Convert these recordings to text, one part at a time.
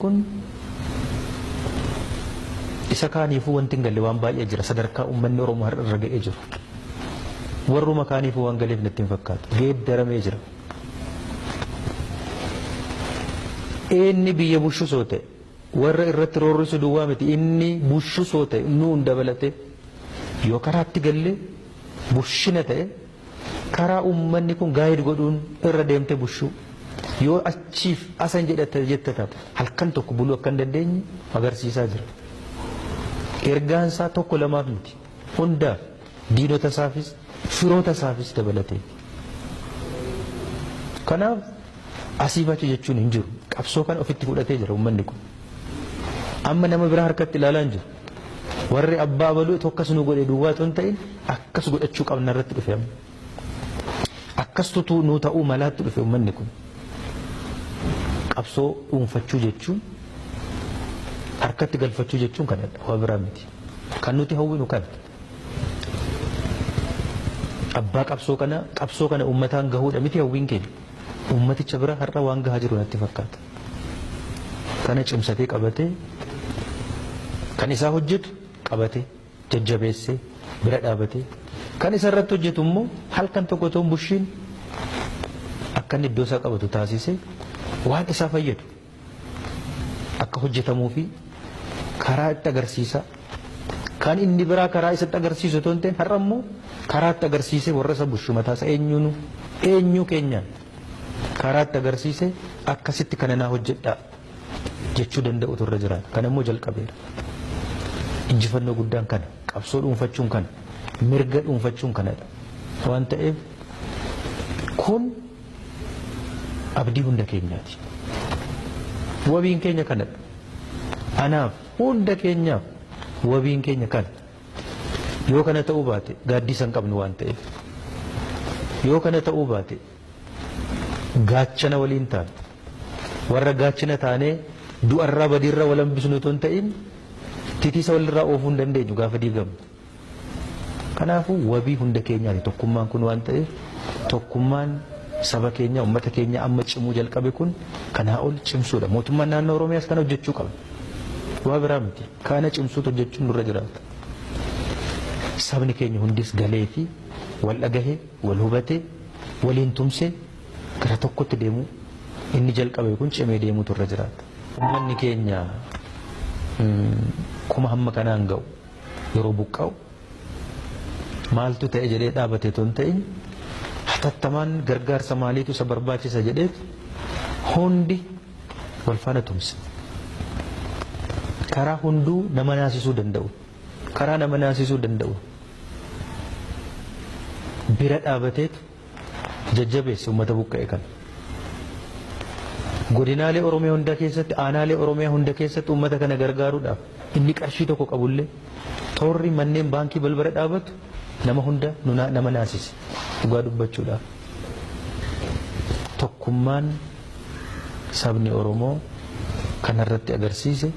Kun isa kaaniifuu wanti hin galle waan baay'ee jira sadarkaa uummanni Oromoo har'a irra ga'ee jiru. Warruma kaaniifuu waan galeef natti hin fakkaatu. Geeddaramee jira. Inni biyya bushusoo ta'e warra irratti roorrisu duwwaa miti inni bushusoo ta'e nuun dabalatee yoo karaatti galle bushina ta'e Karaa uummanni kun gaayid godhuun irra deemte bushuu yoo achiif asan jedhata jetta taate halkan tokko buluu akka hin dandeenye agarsiisaa jira. Ergaan isaa tokko lamaaf miti hundaaf diinota isaafis firoota isaafis dabalatee. Kanaaf asiif achi jechuun hin jiru qabsoo kana ofitti fudhatee jira uummanni kun. Amma nama biraa harkatti ilaalaa hin jiru. Warri abbaa baluu tokkas nu godhe duwwaa otoo hin ta'in akkas godhachuu qabna irratti dhufe amma. Akkas tutuu nuu ta'uu malaatti dhufe uummanni kun. Qabsoo dhuunfachuu jechuun harkatti galfachuu jechuun kanadha waa biraa miti. Kan nuti hawwinu kana. Abbaa qabsoo kana qabsoo kana uummataan gahuudha miti hawwiin keenya. Uummaticha bira har'a waan gahaa jiru natti fakkaata. Kana cimsatee qabatee kan isaa hojjetu qabatee jajjabeessee bira dhaabatee kan isa irratti hojjetu immoo halkan tokko toon bushiin akka inni iddoo isaa qabatu taasisee waan isaa fayyadu akka hojjetamuu fi karaa itti agarsiisaa kan inni biraa karaa isatti agarsiisu toon ta'in har'a immoo karaa itti agarsiisee warra isa bushu mataa isa eenyuunu eenyuu keenyaan karaatti agarsiise akkasitti kana naa hojjedhaa jechuu danda'utu irra jira. Kana immoo jalqabeera. Injifannoo guddaan kana qabsoo dhuunfachuun kana mirga dhuunfachuun kanadha. Waan ta'eef kun abdii hunda keenyaati. Wabiin keenya kanadha. Anaaf hunda keenyaaf wabiin keenya kana. Yoo kana ta'uu baate gaaddisa hin qabnu waan ta'eef. Yoo kana ta'uu baate gaachana waliin taana. Warra gaachana taanee du'arraa badiirraa wal hambisnu otoo hin ta'in titiisa walirraa oofuu hin dandeenyu gaafa diigamu. Kanaafuu wabii hunda keenyaati tokkummaan kun waan ta'eef tokkummaan saba keenya uummata keenya amma cimuu jalqabe kun kanaa ol cimsuudha. Mootummaan naannoo Oromiyaas kana hojjechuu qaba. Waa biraa miti. Kana cimsuutu hojjechuun nurra jiraata. Sabni keenya hundis galeefii wal dhagahee, wal hubatee, waliin tumsee gara tokkotti deemuu inni jalqabe kun cimee deemuutu irra jiraata. Ummanni keenya kuma hamma kanaan ga'u yeroo buqqa'u maaltu ta'e jedhee dhaabate otoo hin ta'in hatattamaan gargaarsa maaliitu isa barbaachisa jedheet hundi wal faana tumsa. Karaa hunduu nama naasisuu danda'u. Karaa nama naasisuu danda'u. Bira dhaabateetu jajjabeessa uummata buqqa'e kana. Godinaalee Oromiyaa hunda keessatti, aanaalee Oromiyaa hunda keessatti uummata kana gargaaruudhaaf inni qarshii tokko qabullee toorri manneen baankii balbala dhaabatu nama hunda nama naasise dhugaa dubbachuudhaaf. Tokkummaan sabni Oromoo kana irratti agarsiise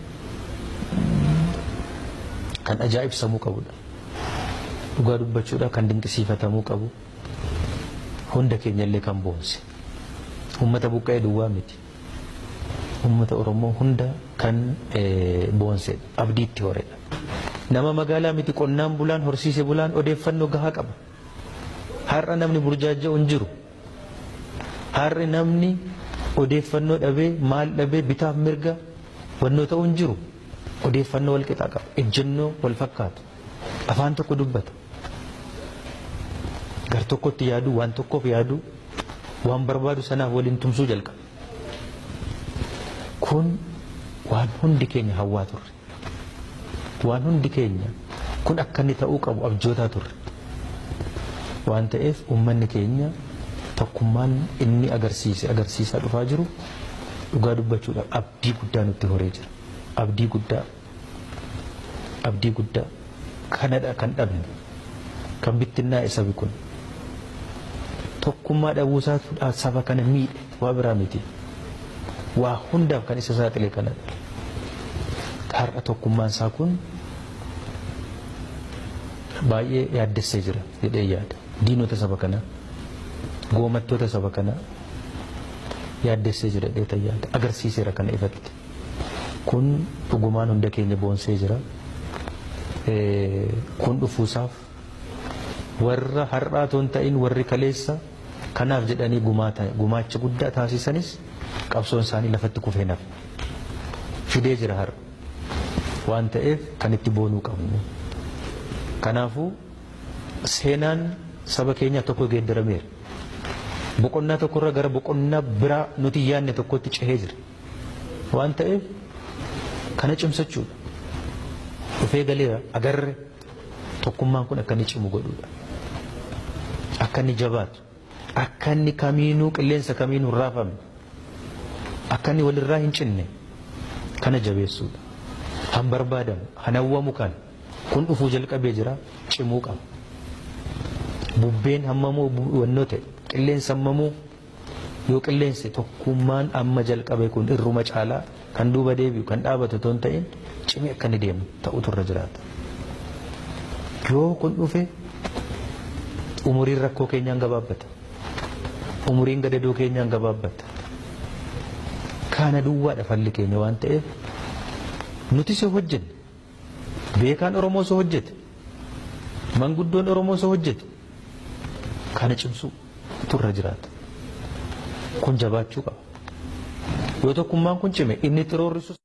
kan ajaa'ibsamuu qabudha. Dhugaa dubbachuudhaaf kan dinqisiifatamuu qabu hunda keenyallee kan boonse. Uummata buqqa'ee duwwaa miti. Uummata Oromoo hunda kan boonsedha. Abdii itti horedha. Nama magaalaa miti qonnaan bulaan horsiise bulaan odeeffannoo gahaa qaba. Har'a namni burjaaja'u hin jiru. Har'a namni odeeffannoo dhabee maal dhabee bitaaf mirga wannoo ta'uu hin jiru. Odeeffannoo wal qixaa qaba. Ejjennoo wal fakkaatu. Afaan tokko dubbata. Gar tokkotti yaadu, waan tokkoof yaadu, waan barbaadu sanaaf waliin tumsuu jalqaba. Kun waan hundi keenya hawwaa turre. Waan hundi keenya kun akka inni ta'uu qabu abjootaa turre. Waan ta'eef uummanni keenya tokkummaan inni agarsiise agarsiisaa dhufaa jiru dhugaa dubbachuudhaaf abdii guddaa nutti horee jira. Abdii guddaa abdii guddaa kanadha kan dhabne kan bittinnaa'e sabi kun tokkummaa dhabuusaatu saba kana miidhe. Waa biraa miti. Waa hundaaf kan isa saaxile kanadha. Har'a tokkummaan isaa kun baay'ee yaaddessee jira jedhee yaada. Diinota saba kanaa, goomattoota saba kanaa yaaddessee jira jedhee yaada. Agarsiiseera kana ifatti. Kun dhugumaan hunda keenya boonsee jira. Kun dhufuusaaf warra har'aa otoo hin ta'in warri kaleessa kanaaf jedhanii gumaacha guddaa taasisanis qabsoon isaanii lafatti kufee nafa. Fidee jira har'a. Waan ta'eef kan itti boonuu qabnu. Kanaafuu seenaan saba keenyaa tokko geeddarameera. Boqonnaa tokkorra gara boqonnaa biraa nuti yaadne tokkotti cehee jira. Waan ta'eef kana cimsachuudha. Dhufee galeera agarre Tokkummaan kun akka inni cimu godhuudha. Akka inni jabaatu, akka inni kamiinuu qilleensa kamiinuu hin raafamne, akka inni walirraa hin cinne kana jabeessuudha. Kan barbaadamu, kan hawwamu kan kun dhufuu jalqabee jira cimuu qaba. Bubbeen hammamuu wannoo ta'e, qilleensi hammamuu Yoo qilleensi tokkummaan amma jalqabe kun irruma caalaa kan duuba deebi'u kan dhaabatu otoo hin ta'in cimee akka inni deemu ta'utu irra jiraata. Yoo kun dhufe umuriin rakkoo keenyaan gabaabbata. Umuriin gadadoo keenyaan gabaabbata. Kaana duwwaadha falli keenya waan ta'eef nutis yoo hojjenne Beekaan Oromoo osoo hojjete, manguddoon Oromoo osoo hojjete kana cimsuu turra jiraata. Kun jabaachuu qaba. Yoo tokkummaan kun cime inni itti roorrisus.